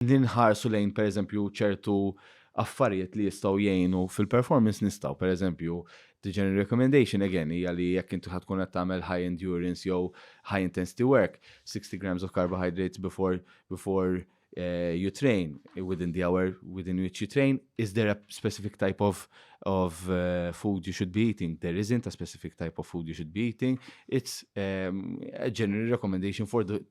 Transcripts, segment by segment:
li nħarsu lejn pereżempju ċertu affarijiet li jistgħu jgħinu fil-performance nistgħu. Pereżempju, the general recommendation again hija li jekk inti ħad tkun qed tagħmel high endurance jew high intensity work, 60 grams of carbohydrates before, before uh, you train within the hour within which you train is there a specific type of of uh, food you should be eating there isn't a specific type of food you should be eating it's um, a general recommendation for the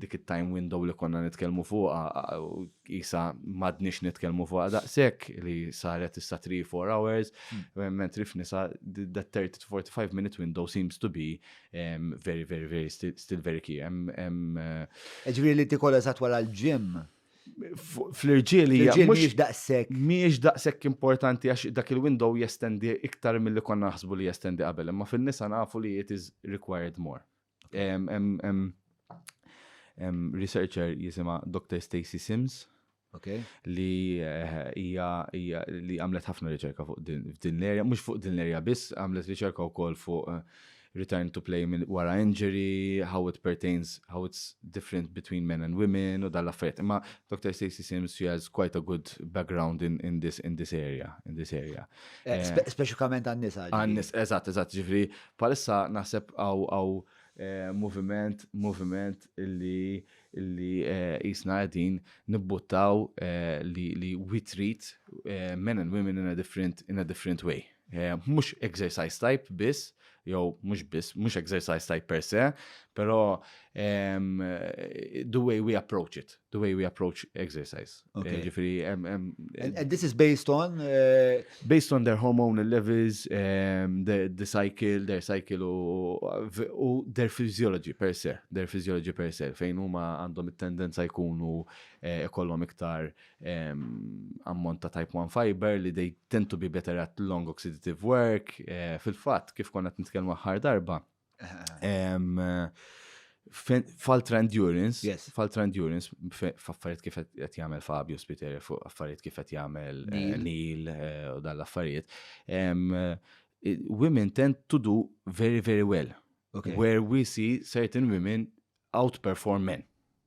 dik it-time window li konna nitkellmu fuqha isa madniex nitkellmu fuqha daqshekk li saret issa 3-4 hours hmm. mentri f'nisa the 30 to 45 minute window seems to be um, very very very still, still very key. Uh, Ġifieri li tikolla sa twala l-ġim fl-irġiel hija mhux daqshekk. Mhijiex daqshekk importanti għax dak il-window jestendi iktar milli konna naħsbu li jestendi qabel, imma fin-nisa nafu li it is required more. Researcher jisima Dr. Stacy Sims. Okay. Li eh, hija li għamlet ħafna riċerka fuq din l-erja, mhux fuq din l-erja biss, għamlet riċerka wkoll fuq eh, return to play minn wara injury, how it pertains, how it's different between men and women u dal affarijiet Imma Dr. Stacey Sims, she has quite a good background in, in this in this area, in this area. Eh, eh, Speċikament għan-nisa. Għan-nis, eżatt, eżatt, ġifri Bħalissa naħseb hawn moviment, moviment illi illi qisna qegħdin nibbuttaw li we treat men and women in a different, in a different way. Mhux exercise type biss, jew mhux biss, mhux exercise type per se, però the way we approach it. the way we approach exercise. Okay. Ġifiri, um, um, and, and, this is based on? Uh... Based on their hormonal levels, um, the, the cycle, their cycle u their physiology per se, their physiology per se, fejn huma għandhom it-tendenza jkunu eh, ikollhom eh, iktar um, ammont ta' type 1 fiber li they tend to be better at long oxidative work. Eh, Fil-fatt, kif konna t-nitkelmu ħar darba, Faltra endurance, yes. faltra endurance, f'affarijiet kif qed jagħmel Fabio Spiteri fuq affarijiet kif qed jagħmel eh, Neil eh, u dan l-affarijiet. Eh, women tend to do very very well. Okay. Where we see certain women outperform men.